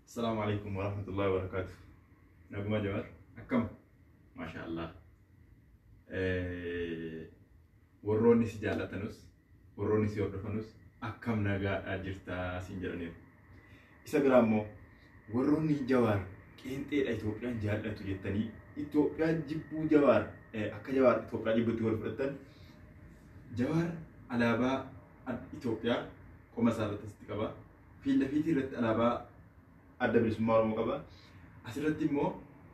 Assalamu alaikum wa rahmatullahi wa barakatuh. Naguma Jamar, akkam? Masha Allah. Warroonni si jaallatanus, warroonni si hordofanus akkam nagaadhaa jirtaa siin jedhaniiru. Isa biraa immoo warroonni Jawaar qeenxeedha Itoophiyaan jaallatu jettanii Itoophiyaa jibbuu Jawaar akka Jawaar Itoophiyaa jibbutti wal fudhatan Jawaar alaabaa Itoophiyaa qoma isaa irratti asitti qaba. Fiilla fiitii irratti alaabaa adda bilisummaa Oromoo qaba. Asirratti immoo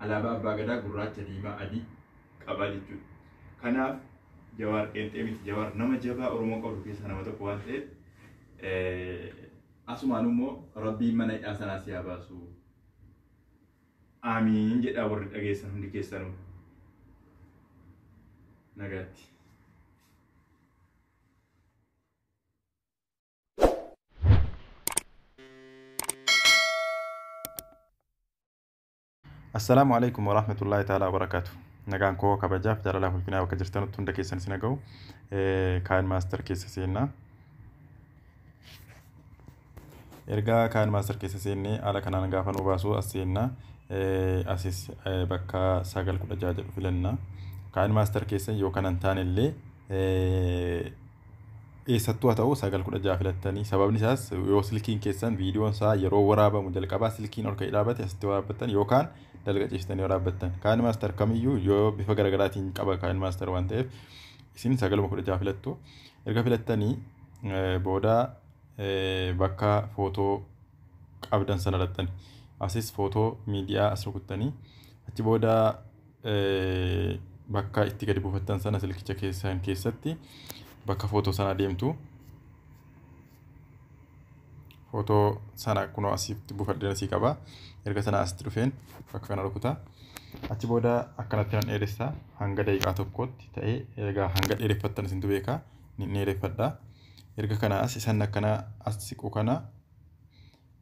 alaabaa abbaa gadaa gurraacha diimaa adii qaba jechuudha. Kanaaf Jawaar qeenxee miti Jawaar nama jabaa Oromoo qabdu keessaa nama tokko waan ta'eef asumaan immoo rabbiin mana hidhaa sanaa si haa baasu. Aamiin jedhaa warri dhageessan hundi keessanuu. Nagaatti. Assalaamu alaikum wa rahmatullahi ta'ala wa barakaatu. Nagaan koo kabajaaf jaalalaa ulfinaa bakka jirtanutti hunda keessan isin haga'u. Kaan maaster keessa seennaa. ergaa kaan master keessa seennee haala kanaan gaafa nu baasu as seenna asis bakka sagal kudha jaha jedhu filanna kaan master keessa yoo kanan taane illee eessattuu haa ta'u sagal kudha jaha filattanii sababni isaas yoo silkiin keessan viidiyoon isaa yeroo waraabamu jalqabaa silkiin ol ka'ee dhaabate asitti waraabbattan yookaan dalga ciistanii waraabbattan kaan master kamiyyuu yoo bifa garagaraatiin qaba kaan master waan ta'eef isin sagaluma kudha jaha filattu Erga filattanii booda bakka footoo qabdan sana irrattani asis footoo miidiyaa as rukuttanii achi booda bakka itti gadi buufattan sana silkicha keessan keessatti bakka footoo sana deemtu. Photo sana kunoo asitti buufadheen asii qaba. Erga sana asitti dhufeen bakka kana rukuta. Achi booda akkanatti nan dheeressa hanga daqiiqaa tokkootti ta'ee egaa hanga dheereffattan isintu beeka ni dheereffadha. Erga kana as isan akkana as siqu kana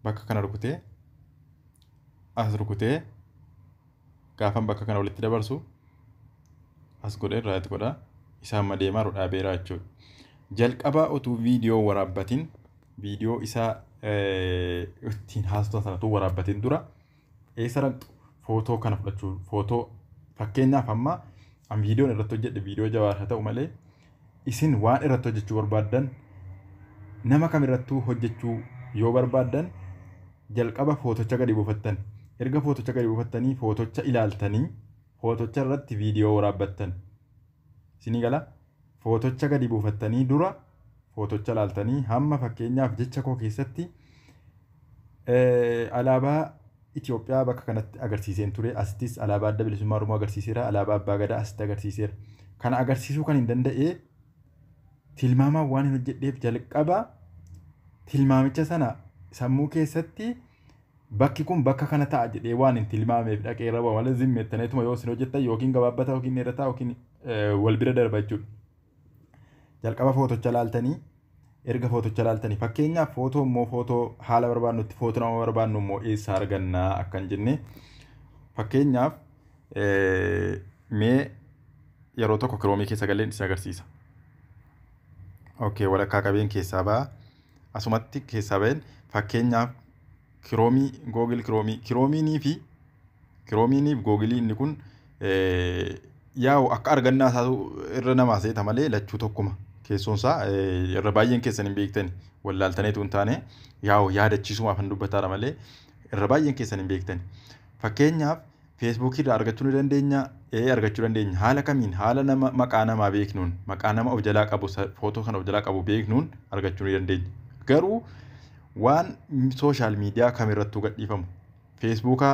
bakka kana rukutee as rukutee gaafan bakka kana walitti dabarsu as godhee raayit godha isaa amma deemaa jiru dhaabeeraa jechuudha. Jalqabaa utuu viidiyoo waraabbatiin viidiyoo isaa ittiin haasoftan sana utuu waraabbatiin dura eessa dhaqxu footoo kana fudhachuu footoo fakkeenyaaf amma an viidiyoon irratti hojjedhe viidiyoo jawaar haa ta'u malee Isin waan irratti hojjechuu barbaaddan nama kam irrattuu hojjechuu yoo barbaaddan jalqaba footocha gadi buufattan. Erga footocha gadi buufattanii footocha ilaaltanii footocha irratti viidiyoo waraabbattan. Isinii gala? Footocha gadi buufattanii dura footocha ilaaltanii hamma fakkeenyaaf jecha koo keessatti alaabaa Itoophiyaa bakka kanatti agarsiiseen ture. Asittis alaabaa Adda Bilisummaa Oromoo agarsiiseera. Alaabaa Abbaa Gadaa asitti agarsiiseera. Kana agarsiisuu kan hin danda'e tilmaamaan waan hin hojjedheef jalqaba tilmaamicha sana sammuu keessatti bakki kun bakka kana ta'a jedhee waan hin tilmaameef dhaqee irra bu'a malee zimmeettaneetuma yoo isin hojjettan yookiin gabaabbata yookiin dheerataa yookiin wal bira darba jechuudha. Jalqaba footocha laaltanii erga footocha laaltanii fakkeenyaaf footoo immoo footoo haala barbaadnutti footoo nama barbaadnu immoo eessaa argannaa akkan jenne fakkeenyaaf mee yeroo tokko kiroomii keessa galleen isin agarsiisa. Okay walakkaa qabeen keessaa ba'a. Asumatti keessaa ba'een fakkeenyaaf kiroomii googil kiroomii kiroomiinii fi kiroomiiniif googilii inni kun yaa'u akka argannaa isaatu irra namaa seeta malee lachuu tokkuma keessoon isaa irra baay'een keessan hin beektani wallaaltaneetu hin taane yaa'u yaadachiisumaaf hin dubbataara malee irra baay'een keessan hin beektani fakkeenyaaf Facebook irraa argachuu ni dandeenya? Ee argachuu dandeenya. Haala kamiin? Haala nama maqaa namaa beeknuun, maqaa nama of jalaa qabu, footoo kan of jalaa qabu beeknuun argachuu ni dandeenya. Garuu waan sooshaal miidiyaa kamirrattuu gadhiifamu. Feesbuuka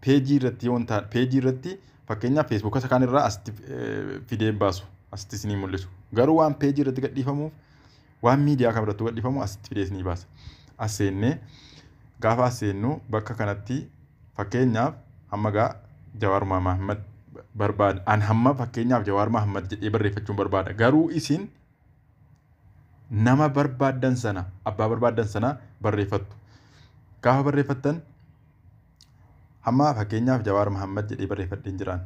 peejii irratti yoo ta'an, peejii irratti fakkeenyaaf feesbuuka isa kaanirraa asitti fidee hin baasu. Asitti isinii mul'isu. Garuu waan peejii irratti gadhiifamuuf Waan miidiyaa kam irrattuu gadhiifamu asitti fidee isinii baasa. As seennee gaafa as seennu bakka kanatti fakkeenyaaf hamma gaa Jawaar Mahammad barbaada. An hamma fakkeenyaaf Jawaar Mahammad jedhee barreeffachuun barbaada. Garuu isin nama barbaaddan sana abbaa barbaaddan sana barreeffattu. Gaafa barreeffattan Hamma fakkeenyaaf Jawaar Mahammad jedhee barreeffadheen jiraan.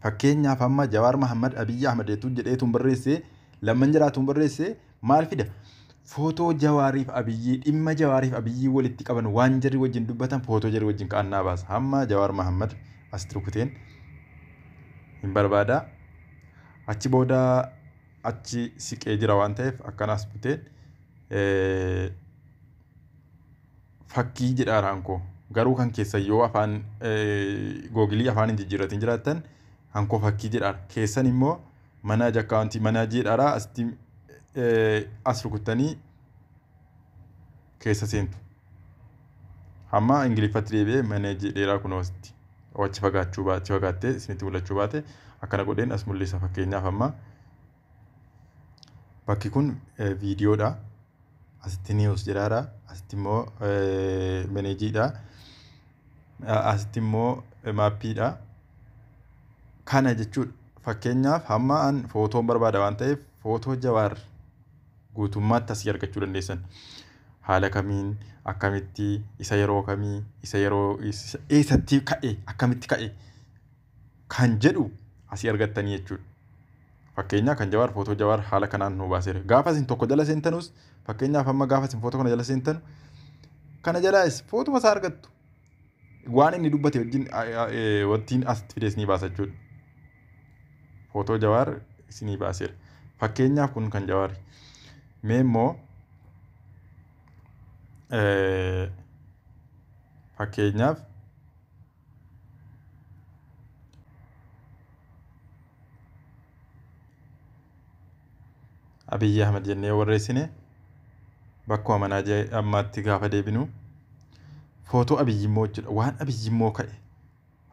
Fakkeenyaaf hamma Jawaar Mahammad Abiyyi Ahmad jechuun jedheetuun barreessee lamman jiraatuun barreessee maal fida? Footoo Jawaariif Abiyyii dhimma Jawaariif Abiyyii walitti qaban waan jarri wajjin dubbatan footoo jarri wajjin ka'an naa baasa. Hamma Jawaar Mahammad asitti rukuteen hin barbaada. Achi booda achi siqee jira waan ta'eef akkanaas buteen. Eh, fakkii jedha haankoo. Garuu kan keessan yoo afaan googilii afaan hin jijjiirratin jiraattan hankoo fakkii jedha keessan immoo manaaj akkaawuntii manaaj jedhaara asitti as rukuttanii keessa seentu. Amma ingiliffatti deebi'ee manaaj jedheeraa kunoo asitti wachi fagaachuu baate fagaattee isinitti mul'achuu baate akkana godheen as mul'isa fakkeenyaaf amma. Bakki kun viidiyoodha. Asitti niiwus jedhaadha. Asitti immoo meneejiidha. Asitti immoo maappiidha. Kana jechuudha. Fakkeenyaaf hamma an footoon barbaada waan ta'eef footoo jawaar guutummaatti asii argachuu dandeessan. Haala kamiin akkamitti isa yeroo kamii isa yeroo eessatti ka'e akkamitti ka'e kan jedhu asii argattanii jechuudha. Fakkeenyaa kan Jawaar footoo Jawaar haala kanaan nuu baaseera. Gaafa isin tokko jala seentanus fakkeenyaaf amma gaafa isin footoo kana jala seentanu kana jalaas footuma isaa argattu. Waan inni dubbate wajjin wajjin asitti fidee isinii baasa jechuudha. Footoo Jawaar isinii baaseera. Fakkeenyaaf kun kan Jawaari. Mee immoo fakkeenyaaf Abiyyi Ahmad jennee warreessine bakkuma manaa jee ammaatti gaafa deebinu footoo Abiyyi immoo jechuudha waan Abiyyi immoo ka'e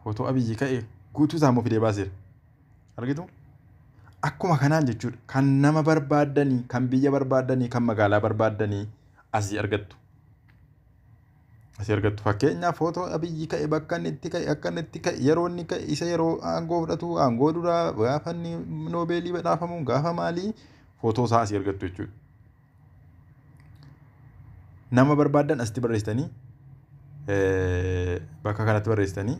footoo Abiyyi ka'e guutuu isaa immoo fidee baaseera. Argitu? Akkuma kanaan jechuudha kan nama barbaaddanii kan biyya barbaaddanii kan magaalaa barbaaddanii asii argattu. Asii argattu fakkeenyaaf footoo abiyyi ka'e bakka inni itti ka'e akka inni itti ka'e yeroo inni ka'e isa yeroo aangoo fudhatu aangoo duraa gaafa inni noobeelii badhaafamu gaafa maalii footoo isaa asii argattu jechuudha. Nama barbaadan asitti barreessitanii bakka kanatti barreessitanii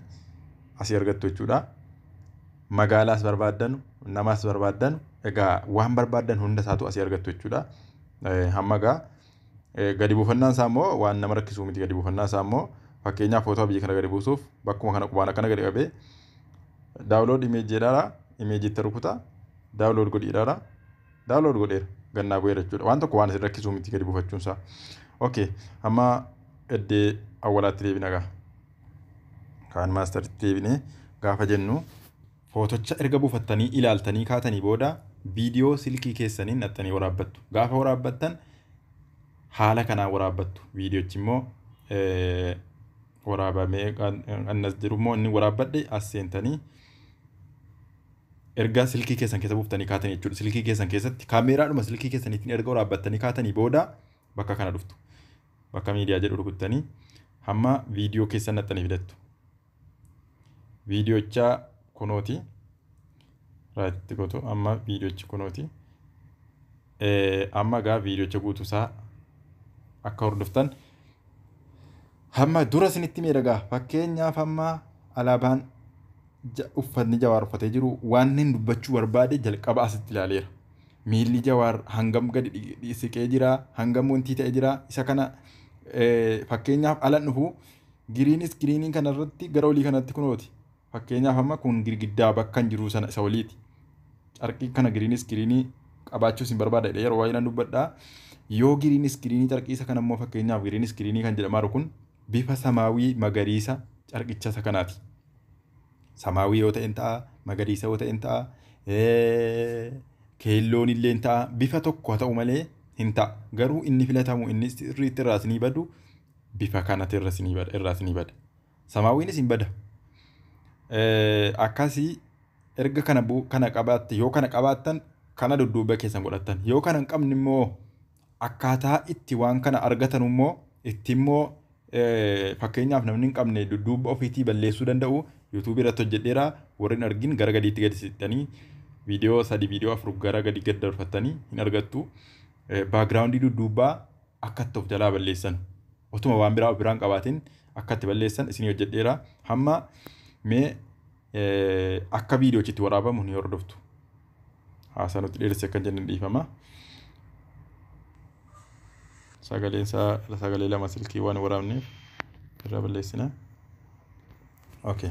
asii argattu jechuudha. Magaalaas barbaadan namas barbaadan egaa waan barbaadan hunda isaatu asii argattu jechuudha. Hamma egaa Gadi buufannaan isaa immoo waan nama rakkisuu miti gadi buufannaan isaa immoo fakkeenyaaf footoo biyya kana gadi buusuuf bakkuma kana qubaan akkana gadi qabee daawulood imeejii jedhaara imeejii itti rukuta daawulood godhi jedhaara daawulood godheera gannaa bu'eera jechuudha waan tokko waan isin rakkisuu miti gadi buufachuun isaa okay amma eddee awwalaatti deebina gaa kaan maastaritti deebinee gaafa jennu Footocha erga buufattanii ilaaltanii kaatanii booda viidiyoo silkii keessaniin naqxanii waraabbattu. Gaafa waraabbattan haala kanaan waraabbattu. Viidiyochi immoo waraabamee annas jiru immoo inni waraabbadhe as seentanii erga silkii keessan keessa buuftanii kaatanii jechuudha. Silkii keessan keessatti kaameeraadhuma silkii keessaniitiin erga waraabbattanii kaatanii booda bakka kana dhuftu. Bakka miidiyaa jedhu rukuttanii hamma viidiyoo keessan naqxanii fidattu. viidiyochaa kunooti raatitti gotu amma viidiyochi kunooti amma egaa viidiyocha guutuusaa akka hordoftan hamma dura isinitti miidhagaa fakkeenyaaf amma alaabaan uffatni jawaar uffatee jiru waan inni dubbachuu barbaade jalqaba asitti ilaaleera miilli jawaar hangam gadi siqee jira hangam wantii ta'e jira isa kana fakkeenyaaf alan dhufu Giriin iskiriinii kana irratti gara olii kanatti kunooti. Fakkeenyaaf amma kun girgiddaa bakkan jiruu sana isa oliiti. Carqii kana giriin iskiriinii qabaachuu isin barbaada jedhee yeroo baay'inaan dubbadha. Yoo giriin iskiriinii carqii isa kana immoo fakkeenyaaf giriin iskiriinii kan jedhamaa jiru kun bifa samaawii magariisa carqicha isa kanaati. Samaawii yoo ta'een ta'a, magariisa yoo ta'een ta'a, keelloon illee ta'a. Bifa tokko haa ta'u malee hin ta'a. Garuu inni filatamu inni sirriitti irraa isinii badu bifa kanati irra isinii bada irraa isinii bada samaawiinis hin bada Eh, akkasii erga kana bu- kana qabaatte yoo kana qabaattan kana dudduuba keessan godhattan yoo kana hin qabne immoo akkaataa itti waan kana argatan immoo itti immoo eh, fakkeenyaaf namni hin qabne dudduuba ofiitii balleessuu danda'u yuutuubii irratti hojjedheera warri hin argin gara gadiitti gadi sittanii viidiyoo sadi viidiyoo afur gara gadi gad darbattanii hin argattu baagiraawundii dudduubaa akkatti of jalaa balleessan otuma waan biraa of biraan qabaatiin akkatti balleessan isinii hojjedheera hamma mee akka viidiyoochitti waraabamu ni hordoftu haasaa nutti dheeresse akkan jennan dhiifama sagaleen isaa sagalee lama silkii waan waraabneef irraa balleessina okay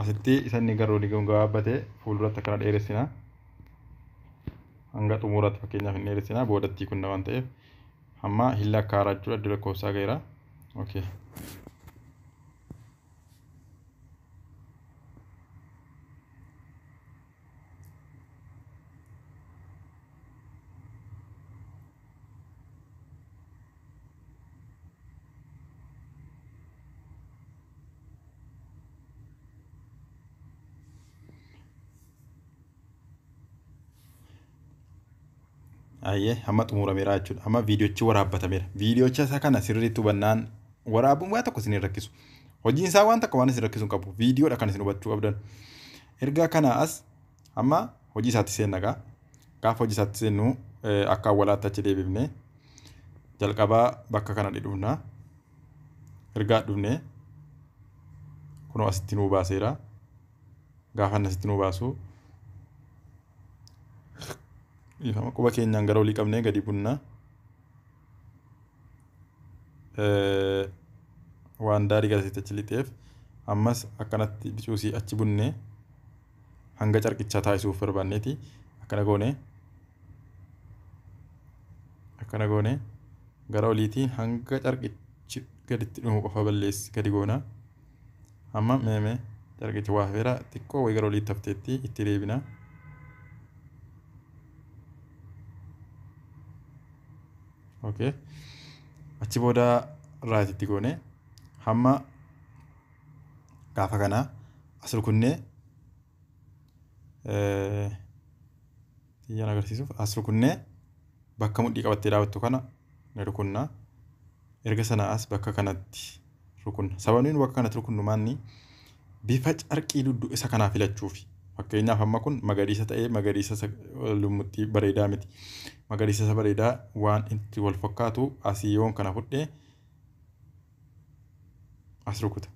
asitti isa inni garuu liqii gabaabbate fuulduratti akkana dheeressina hanga xumuuraatti fakkeenyaaf hin dheeressina boodattii kunna waan ta'eef Amma hin lakkaa'ara jechuudha iddoo lakkoofsaa ga'eera. Okay. Ayyee amma xumurameera jechuudha. Amma viidiyochi waraabbatameera. Viidiyocha isa kana sirriitti hubannaan waraabuun waa tokko isin hin rakkisu. Hojiin isaa waan tokko waan isin rakkisu hin qabu. Viidiyoodha kan isin hubachuu qabdan. Erga kana as amma hojii isaatti seenna gaa. Gaafa hojii isaatti seennu eh, akka awwalaatti achi deebifne jalqabaa bakka kana dhidhufna. Ergaa dhufne kunoo asitti nuu baaseera. gaafa inni asitti nu baasu dhiifama quba keenyaan gara olii qabnee gadi bunna waan daarii gara asitti achi lixeef ammas akkanatti bicuusii achi bunne hanga carqichaa taasisuuf barbaanneeti akkana goone akkana goone gara oliitiin hanga carqichi gaditti dhumu qofa balleessi gadi goona. Amma meeme carqichi waa hafeera xiqqoo wayi gara oliitti hafteetti itti deebina. Okay. Achi booda raayititti goone hamma gaafa kana as rukunnee Xiyyaan agarsiisuuf as rukunnee bakka mudhii qabattee dhaabattu kana ni rukunna. Erga sana as bakka kanatti rukunna. Sababni nu bakka kanatti rukunnu maanni bifa carqii duddu isa kanaa filachuufi. Fakkeenyaaf amma kun magariisa ta'ee magariisa isa lummuttii bareedaa miti. Magariisa isa bareedaa waan itti wal fakkaatu asii yoon kana fudhee as rukuta.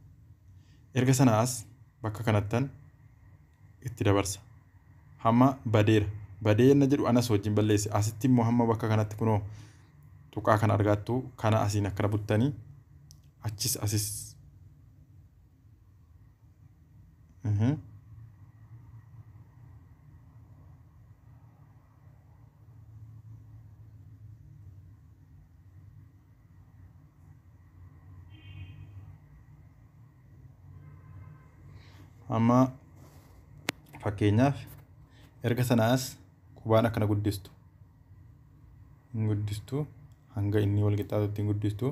Erga sana as bakka kanattan itti dabarsa. Hamma badeera. Badee yenna jedhu anas wajjin balleesse. Asitti immoo hamma bakka kanatti kunoo tuqaa kana argaattu kana asiin akkana buttanii achis asis Mhm. amma fakkeenyaaf erga sanaas qubaan akkana guddistu hin guddistu hanga inni wal qixxaatutti hin guddistu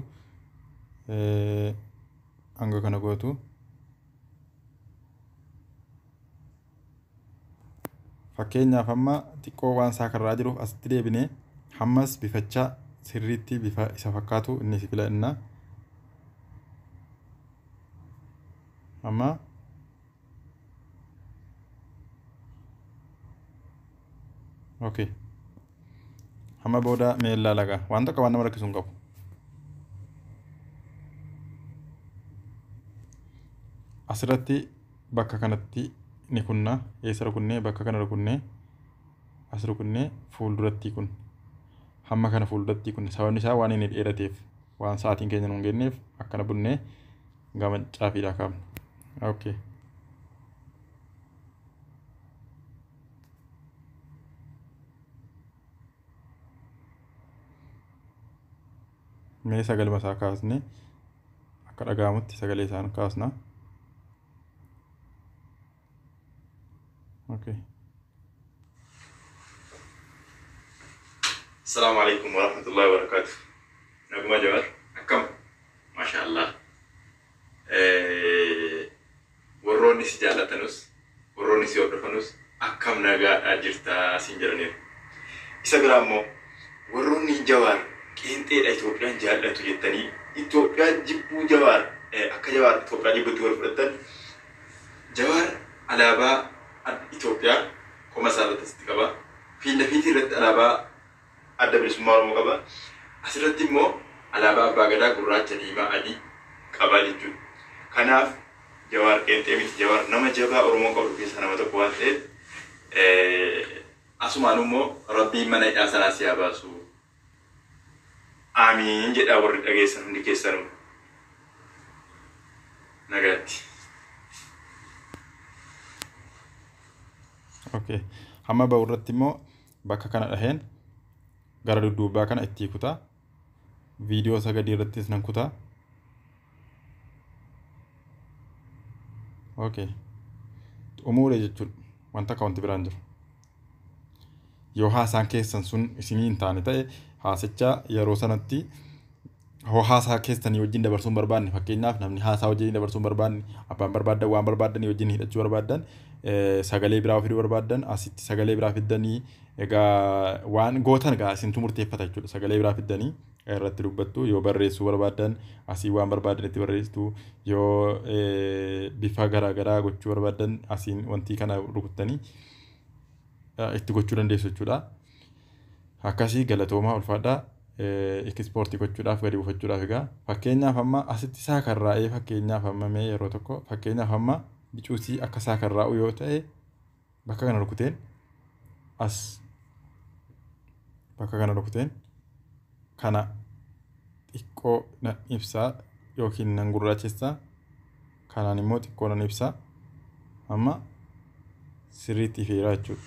hanga kana gootu fakkeenyaaf amma xiqqoo waan isaa karraa jiruuf asitti deebine hammas bifachaa sirriitti bifa isa fakkaatu inni si filanna amma okay hamma booda mee laalaga waan tokko waan nama rakkisu hin qabu asirratti bakka kanatti ni kunna eessa rukunnee bakka kana rukunnee as rukunnee fuuldurattii kun hamma kana fuuldurattii kun sababni isaa waan inni dheerateef waan sa'aatiin keenya nuun geenneef akkana bunnee gama caafiidhaa kaafna. Okay. mee sagaluma isaa kaasne akka dhaga'amutti sagalee isaan kaasna. Okay. Assalamu alaikum warahmatullahi wabarakatuh. Naguma Jawar, akkam? Masha Allah. Eh, Warroonni si jaallatanus, warroonni si hordofanus akkam nagaadhaa jirtaa siin jedhaniiru. Isa biraa immoo warroonni Jawaar qeenxeedha Itoophiyaan jaallatu jettanii Itoophiyaa jibbuu Jawaar akka Jawaar Itoophiyaa jibbutti wal fudhattan Jawaar alaabaa Itoophiyaa koma isaa irratti asitti qaba. Fiindafiitii irratti alaabaa Adda Bilisummaa Oromoo qaba. Asirratti immoo alaabaa Abbaa Gadaa gurraacha, diimaa, adii qaba jechuudha. Kanaaf Jawaar qeenxee miti. Jawaar nama jabaa Oromoon qabdu keessaa nama tokko waan ta'eef asumaanuu immoo Rabbiin mana hidhaa sanaa si haa baasu. Aamiin jedhaa warri dhageessan hundi keessanuu. Nagaatti. Okay. Hamma ba'u irratti immoo bakka kana dhaheen gara dudduubbaa kana ittii kutaa viidiyoo isa gadii irrattis nan kutaa okay xumuure jechuun wanta akka wanti biraan jiru yoo haasaan keessan sun isinii hin taane ta'e haasicha yeroo sanatti hoo haasaa keessanii wajjin dabarsuun barbaanne fakkeenyaaf namni haasaa wajjin dabarsuun barbaanne abbaan barbaaddan waan barbaaddanii wajjin hidhachuu barbaaddan eh, sagalee biraa fiduu barbaaddan asitti sagalee biraa fiddanii egaa waan gootan egaa isintu murteeffata jechuudha sagalee biraa fiddanii irratti dubbattu yoo barreessuu barbaaddan asii waan barbaaddan itti barreessitu yoo eh, bifa garaa garaa gochuu barbaaddan asiin wantii kana rukuttanii eh, itti gochuu dandeessu jechuudha. Akkasii galatoomaa ulfaadhaa Ikispoortii gochuudhaaf gadi buufachuudhaaf egaa fakkeenyaaf amma asitti saakarraa'ee fakkeenyaaf amma mee yeroo tokko fakkeenyaaf amma bicuutii akka saakarraa'u yoo ta'e bakka kana rukuteen as bakka kana rukuteen kana xiqqoo nan ibsaa yookiin nan gurraachessaa Kanaan immoo xiqqoo nan ibsa. Amma sirriitti ifeera jechuudha.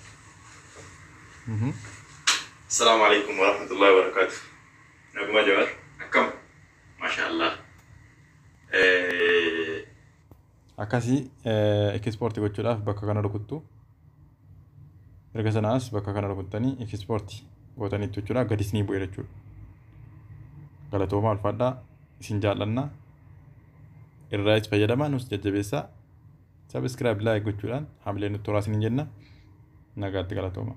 Assalaamu alaikum warahmatullahi wabarakaatu. Naguma Jawar akkam? Maashaa Allah. Akkasii ekispoorti gochuudhaaf bakka kana rukuttu. erga sanaas bakka kana rukuttanii ikispoorti gootaniittu jechuudha gadi isinii bu'e jechuudha galatoomaa ulfaadhaa isin jaallanna irraayis fayyadamaa nus jajjabeessaa sabiskiraayib laayik gochuudhaan hamilee nutti horaa isin jenna nagaatti galatoomaa